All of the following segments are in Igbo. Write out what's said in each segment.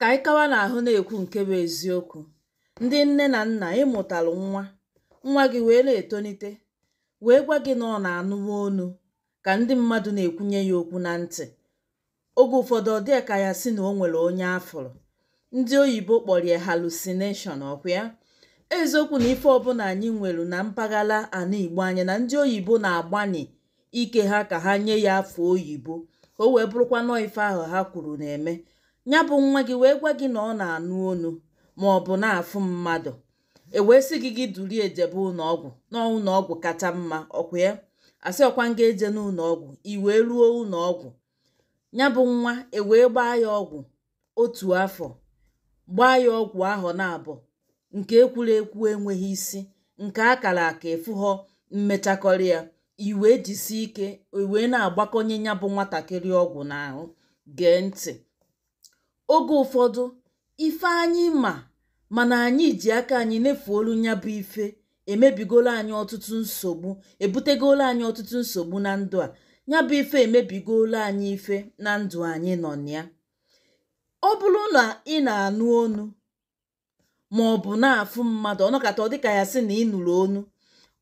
Ka anyị kawa na-ahụ na-ekwu nke bụ eziokwu, ndị nne na nna ị mụtalụ nwa, nwa gị wee na-etonite, wee gwa gị na ọ na-anụwa onu ka ndị mmadụ na-ekwunye ya okwu na ntị. Oge ụfọdụ ọ dịa ka ya sị na o nwere onye a fụrụ. Ndị oyibo kpọrọ ya hallucination, ọkwa ya? Eziokwu na ife ọbụna anyị nwere na mpaghara ana Igbo anyị na ndị oyibo na-agbanị ike ha ka ha nye ya afa oyibo ka o wee bụrụkwa nọọ ife ahụ ha kwuru na-eme nya bụ nwa gị wee gwa gị na ọ na-anụ onu ma ọ bụ na-afụ mmadụ e wee sị gị gị duru ya jebe ụnọọgwụ na ụnọọgwụ kacha mma ọkwa ya a sị ọkwa m ga-eje n'ụnọọgwụ i wee ruo ụnọọgwụ nya bụ nwa e wee gbaa ya ọgwụ otu afọ gbaa ya ọgwụ afọ naabọ nke e kwuru ekwu enweghị isi nke a kara aka efughọ mmechakọrị ya i wee jisi ike i wee na-agbakọnye nya bụ nwatakịrị ọgwụ n'ahụ gee ntị oge ụfọdụ ife anyị ma mana anyị ji aka anyị nefuolu nya bụ ife emebigolo anyị ọtụtụ nsogbu ebutegolo anyị ọtụtụ nsogbu na ndụ a ya bụ ife emebigolo anyị ife na ndụ anyị nọ na ya ọ bụrụ na ị na-anụ onu ma ọ bụ na-afụ mmadụ ọ nọkata ọ dịka ya sị na ị nụrụ onu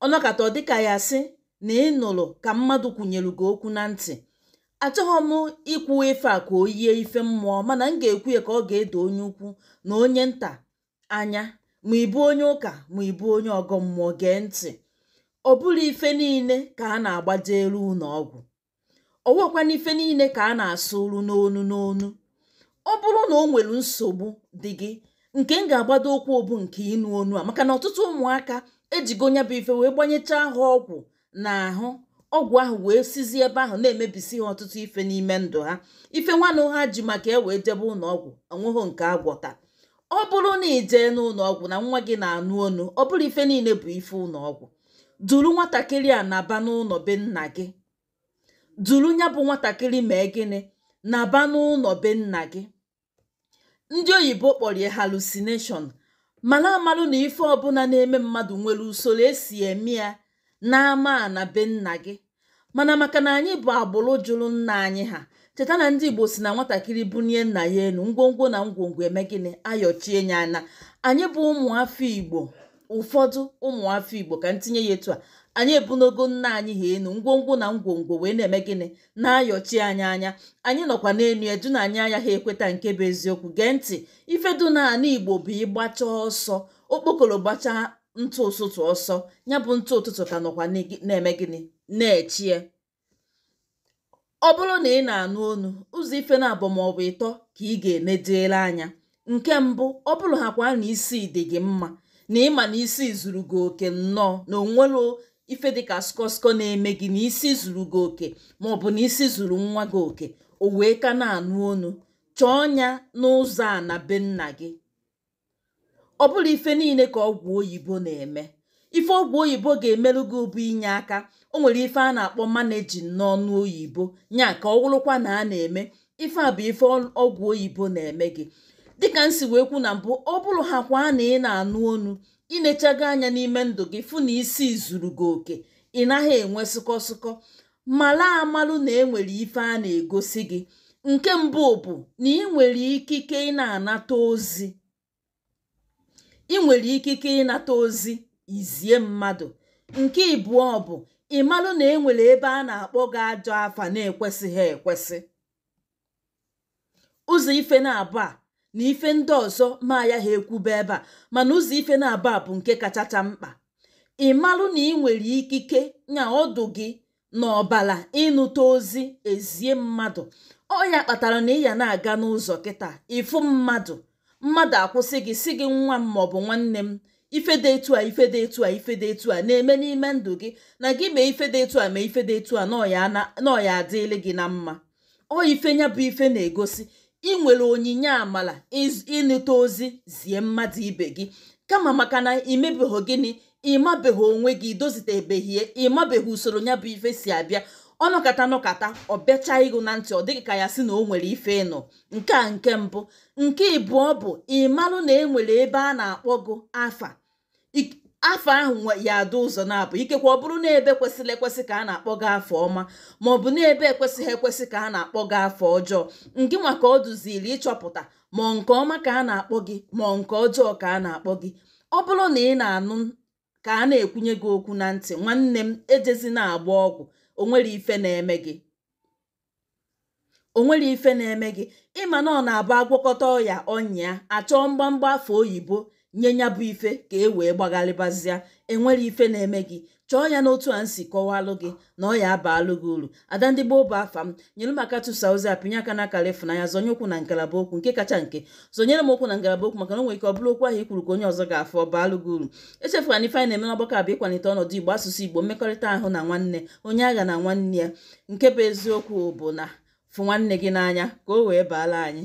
ọ nọkata ọ dịka ya sị na ị nụrụ ka mmadụ kwunyere gị okwu na ntị achọhọ m ikwu ife a ka o yie ife mmụọ mana m ga-ekwu ya ka ọ ga-edo onye ukwu na onye nta anya ma ị bụ onye ụka ma ị bụ onye ọgọ mmụọ gee ntị ọ bụrọ ife niile ka a na-agbajelu ụnọ ọgwụ ọwakwana ife niile ka a na-asụ olu n'onu n'onu ọ bụrụ na o nwere nsogbu dị gị nke m ga-agbado ụkwụ ọ bụ nke ịnụ onu a maka na ọtụtụ ụmụaka e jigo nya bụ ife wee gbanyechaa ha ọgwụ n'ahụ ọgwụ ahụ wee sizie ebe ahụ na-emebisi ha ọtụtụ ife n'ime ndụ ha ife nwanụ ha ji maka ya wee jebe ụnọ ọgwụ o nweghị nke a gwọta ọ bụrụ na ị jee n'ụnọ ọgwụ na nwa gị na-anụ onu ọ bụrọ ife niile bụ ife ụnọ ọgwụ duru nwatakịrị a naba n'ụnọ be nna gị duru nya bụ nwatakịrị mee gịnị naba n'ụnọ be nna gị ndị oyibo kpọrọ ya hallucination mana a malụ na ife ọbụna na-eme mmadụ nwere usoro e si eme ya n'ama na be nna gị mana maka na anyị bụ agbụrụ jụrụ nna anyị ha cheta na ndị igbo si na nwatakịrị bunie nna ya enu ngwongwo na ngwongwo emee gịnị ayọchie ya anya anyị bụ ụmụ afọ igbo ụfọdụ ụmụafọ igbo ka m tinye ya etu a anyị ebunigo nna anyị ha enu ngwongwo na ngwongwo wee na-eme gịnị na-ayọchi anyị anya anyị nọkwa n'enu edu na anyị anya ha ekweta nke bụ eziokwu gee ntị ife dụ na ala igbo bụ ị gbacha ọsọ okpokoro gbacha ntụ ụtụtụ ọsọ nya bụ ntụ ụtụtụ ka nọkwa na-eme gịnị na-eche ya ọ bụrụ na ị na-anụ onu ụzọ ife naabọ ma ọ bụ ịtọ ka ị ga-enedere anya nke mbụ ọ bụrụ ha kwa na isi dị gị mma na ịma na isi zuru gị oke nnọọ na o nwerọ ife dịka skọskọ na-eme gị na isi zuru gị oke ma ọ bụ na isi zuru nwa gị oke o wee ka na-anụ onu chọọ ya n'ụzọ ana be nna gị ọ bụrọ ife niile ka ọgwụ oyibo na-eme ife ọgwụ oyibo ga-emerụ gị bụ inye aka o nwere ife a na-akpọ managing n'ọnụ oyibo nya ka ọ wụrụkwa na a na-eme ife a bụ ife ọgwụ oyibo na-eme gị dịka m si wee kwu na mbụ ọ bụrụ ha kwa na ị na-anụ onu i nechago anya n'ime ndụ gị fụ na isi zuru gị oke ị naghị enwe sụkọ sụkọ mara amalụ na enwere ife a na-egosi gị nke mbụ bụ na ị nwere ikike ị na-anata ozi ị nwere ikike ịnata ozi zie mmadụ nke ịbụọ bụ ịmalụ na enwere ebe a na-akpọ gị ajọ afa na-ekwesịghị ekwesị ụzọ ife naabọ a na ife ndị ọzọ m ayaha ekwube ebe a mana ụzọ ife naabọ a bụ nke kachacha mkpa ịmalụ na ị nwere ikike nya ọ dụ gị na ọbala ịnụta ozi zie mmadụ ọ nya kpatara na ị ya na-aga n'ụzọ kịta ị fụ mmadụ mmadụ akwụsị gị sị gị nwa m maọbụ nwanne m ife dị etu a ife dị etu a ife dị etu a na-eme n'ime ndụ gị na gị mee ife dị etu a mee ife dị etu a na ọ ya-adịịlị gị na mma ọ ife nya bụ ife na-egosi ị nwere onyinye amala ịnụta ozi zie mmadụ ibe gị kama maka na i mebeghị gịnị ị mabeghị onwe gị i dozitebeghị ya ị mabeghị usoro nya bụ ife si abịa ọ nọkata nọkata ọ bịacha ịgụ na ntị ọ dị gị ka a ya-asị na o nwere ife ị nụ nke a nke mbụ nke ịbụọ bụ ịmalụ na e nwere ebe a na-akpọ gụ afa afa ahụ ya-adị ụzọ naabọ ikekwe ọ bụrụ na ebe kwesịrị ekwesị ka a na-akpọ gị afa ọma ma ọ bụ na ebe ekwesịghị ekwesị ka a na-akpọ gị afa ọjọọ ngị nwa ka ọ dụziri ịchọpụta ma ọ nke ọma ka a na-akpọ gị ma ọ nke ọjọọ ka a na-akpọ gị ọ bụrụ na ị na-anụ ka a na-ekwunye gị okwu na ntị nwanne m ejezina agba ọgwụ o nwerọ ife na-eme gị o nwerọ ife na-eme gị ị ma na ọ na-abụ a gwọkata ọya ọ nyịa a chọọ mgbamgba afa oyibo nye nya bụ ife ka e wee gbagharịbazịa enwere ife na-eme gị chọọ ya n'otu a m si kọwalụ gị na ọ ya-abaalụ gị uru ada ndị gboo bụ afa m nyere m aka tụsa ozi a pịnye aka n'akara ịfụnanya zonye ụkwụ na ngalaba okwu nke kacha nke zonyere m okwu na ngalaba okwu maka na o nwere ike ọ bụrụ okwu ahụ i kwuru ka onye ọzọ ga-afụ ọ baalụ gị uru echefukwa na ife anyị na-eme n'ọgbakọ a bụ ịkwalite ọnọdụ igbo asụsụ igbo mmekọrịta ahụ na nwanne onye aghana nwanne ya nke bụ eziokwu bụ na fụ nwanne gị n'anya ka o wee baala anyị